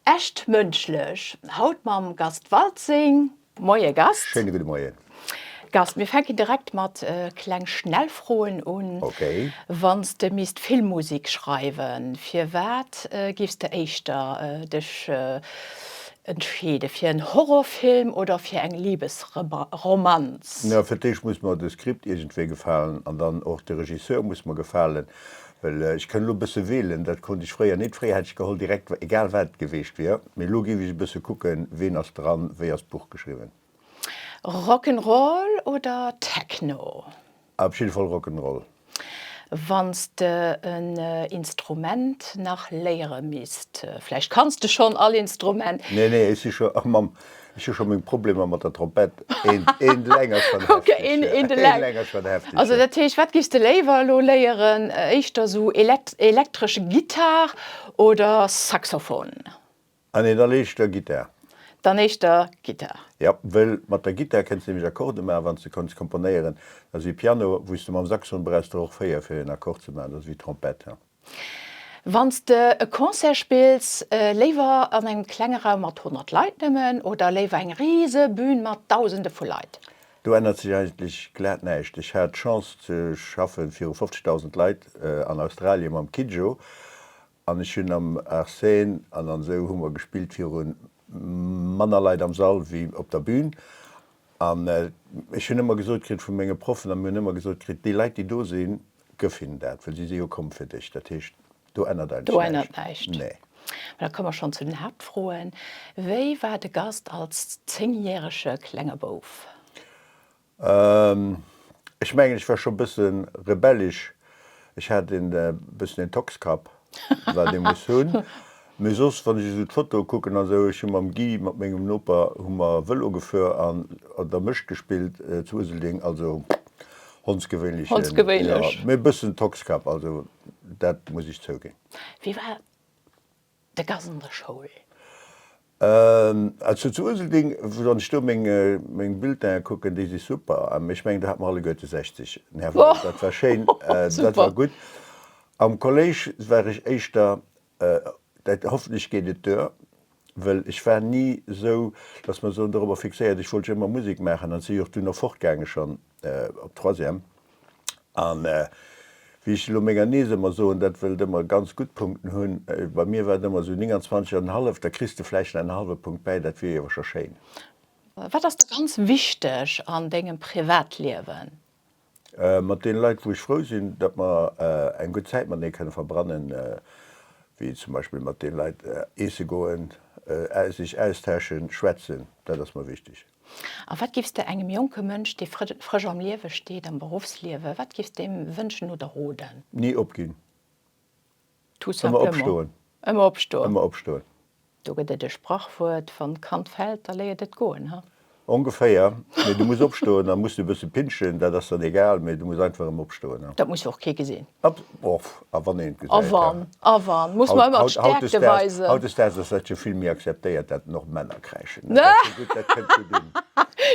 Echt mënschlech haut mam Gast Waltzing. Moie Gast. Schéine gudde Moien. Gast, mir fänken direkt mat kleng Schnellfroen un. Ok. Wann s de misst Filmmusek schreiwen, fir wat giffs de éischter dech entscheeden, fir en Horrorfilm oder fir eng Libesromanz? Fir d'éischt muss mer de Skript iergendwéi gefalen an dann och de Regisseur muss mer gefalen. Well ech kënn elo e bësse welen, dat konnt ech fréier nit. Fréier hätt ech geholl direkt, egal wat et geweecht wier. Mee elo giff ech e bësse kucken, ween ass dran, wéi ass d'Buch geschriwwen. Rock 'n' Roll oder Techno? Op jidde Fall Rock 'n' Roll. Wann s de en Instrument nach léiere misst, vläicht kanns de schonn all Instrument? Nee, nee, ech si scho, och mam Ech hu scho meng Problemer mat der Trompett, een Läng ass schon heftig. Okay, een de Läng ass schon heftig. Also dat heescht, wat giffs de léiwer elo léieren, éischter esou elektresch Gittar oder Saxophon? Ah nee, dann éischter Gittar. Dann éischter Gittar. Jo, well mat der Gittar kenns de nämlech Akkorde maachen, wanns de kanns komponéieren. Dat ass wéi Piano, wou s de mam Saxophon brauchs de och 4 fir en Akkord ze maachen, dat ass wéi Trompett. Wann s de e Concert spills, léiwer an engem klenge Raum mat 100 Leit nëmmen oder léiwer eng rise Bün mat Dausende vu Leit? Do ännert sech eigentlech glat näischt. Ech hat d'Chance ze schaffe viru 50.000 Leit an Australie mam Kidjo an ech hunn am Arsène an an esou hu mer gespillt viru manner Leit am Sall wéi op der Bün. An ech hunn ëmmer gesot kritt vu menge Proffen a mir hunn ëmmer gesot kritt, déi Leit déi do sinn, Gëff hinnen dat, well si si jo komm fir dech. Dat heescht, do ännert eigentlech näischt. Do ännert näischt. Nee. Mä da komme mer schonn zu den Haaptfroen. Wéi war de Gast als zéngjärege klenge Bouf? Ech mengen, ech war scho e bësse rebellesch. Ech hat e bëssen en Tockskapp. wat ee muss hunn. Mee soss, wann ech esou d'Fotoe kucken a sou, ech hu mam Guy, mat mengem Noper, hu mer Vëlo gefuer an an der Mécht gespillt zu Useldeng, also hondsgewéinlechen, jo, mee e bëssen Tockskap, also dat muss ech zouginn. Wéi war de Gas an der Schoul? Also zu Uselding, wann ech do meng Bulletinen kucken, déi si super. Ech mengen, do hat mer alleguerte 60. Nervant, dat war schéin, dat war gutt. Am Kolléisch war ech éischter, dat, hoffentlech geet et duer, well ech war ni esou, datt mer soen, dorobber fixéiert, ech wollt jo ëmmer Musek maachen an et si jo och dunn erfort gaange schonn. op Troisième. An wéi ech elo menger Niess ëmmer soen, dat wëllt ëmmer ganz gutt Punkten hunn, bei mir war et ëmmer esou 29 an en hallef, da kriss de vläicht nach en hallwe Punkt bäi, dat wier awer scho schéin. Wat ass der ganz wichteg an dengem Privatliewen? Mat deene Leit, wou ech frou sinn, datt mer eng gutt Zäit matenee kënne verbrannen, wéi zum Beispill mat deene Leit eesse goen, sech austausche schwätzen, dat ass mer wichteg. A wat giffs de engem jonke Mënsch, dee frësch am Liewe steet, am Beruffsliewe, wat giffs de him wënschen oder roden? Ni opginn. Tout simplement. Ëmmer opstoen. Ëmmer opstoen. Do gëtt et e Sprachwuert, Wann d'Kand fält, da léiert et goen, ha? Ongeféier. Mee du muss opstoen. Dann muss du e bësse pinschen, dat ass dann egal, mee du muss einfach ëmmer opstoen. Dat muss och kee gesinn. Op. A wann een et gesäit, A wann, a wann, muss mer ëmmer d'Stäerkte weisen. Hautdesdaags ass dat jo vill méi akzeptéiert, dat den och Männer kräischen. Dat ass jo gutt, dat kënnt gutt un.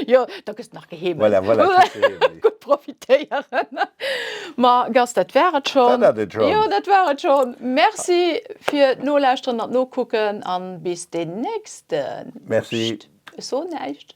Jo, da gëss de nach geheemelt. Voilà, voilà, kriss de heemlech. Gutt profitéieren. Ma Gast, dat war et schonn. Dat hat et schonn. Jo, dat war et schonn. Merci fir d'Nolauschteren an d'Nokucken a bis den nächsten. Merci. Pscht, ech soen näischt.